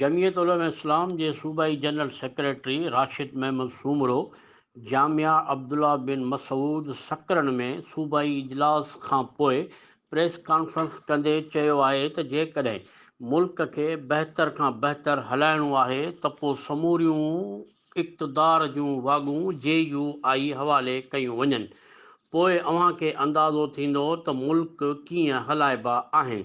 جمعيت علماء اسلام جي صوبائي general secretary Rashid Muhammad Soomro جامع عبدالله بن مسعود سڪرن ۾ صوبائي اجلاس کان پوء پريس ڪانفرنس ڪندي چيو آهي ته جيڪڏهن ملڪ کي بهتر کان بهتر هلائڻو آهي ته پوء سموريون اقتدار جون واڳون جي يو آء حوالي ڪيون وڃن پوء اوهان کي اندازو ٿيندو ته ملڪ ڪيئن هلائبا آهن.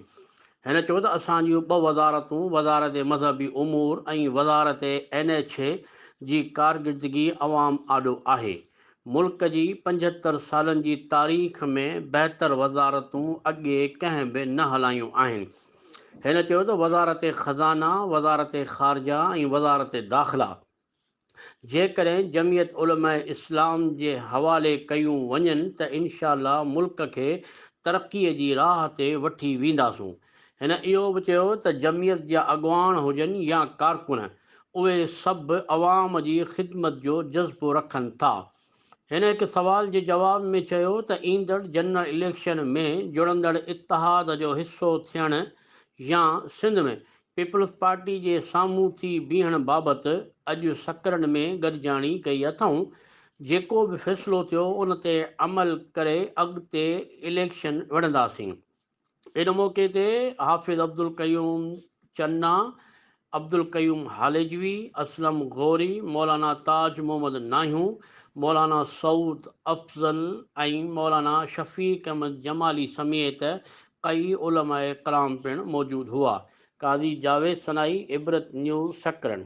هن چيو ته اسان جون ٻه وزارتون وزارت مذهبي امور ۽ وزارت اين ايڇ اي جي ڪارڪردگي عوام آڏو آهي. ملڪ جي پنجهتر سالن جي تاريخ ۾ بهتر وزارتون اڳي ڪنهن به نه هلايون آهن. هن چيو ته وزارت خزانه، وزارت خارجه ۽ وزارت داخلا جيڪڏهن جمعيت علماء اسلام جي حوالي ڪيون وڃن ته انشاء الله ملڪ کي ترقي جي راهه تي وٺي وينداسون. هن اهو به چيو ته جمعيت جا اڳواڻ هجن يا ڪارڪن اهي سڀ عوام جي خدمت جو جذبو رکن ٿا هن هڪ سوال جي جواب ۾ چيو ته ايندڙ جنرل اليڪشن ۾ جڙندڙ اتحاد جو حصو ٿيڻ يا سنڌ ۾ پيپلز پارٽي جي سامهون ٿي بيهڻ بابت اڄ سڪرنڊ ۾ گڏجاڻي ڪئي اٿئون، جيڪو به فيصلو ٿيو ان تي عمل ڪري اڳتي اليڪشن وڙهنداسين. ان موقعي تي حافظ عبدالقيوم چنا، عبدالقيوم هاليجوي، اسلم غوري، مولانا تاج محمد ناهيو، مولانا سعود افضل ۽ مولانا شفيق احمد جمالي سميت ڪئي علماء ڪرام پڻ موجود هئا. قاضي جاويد سنائي، عبرت نيوز سڪرنڊ.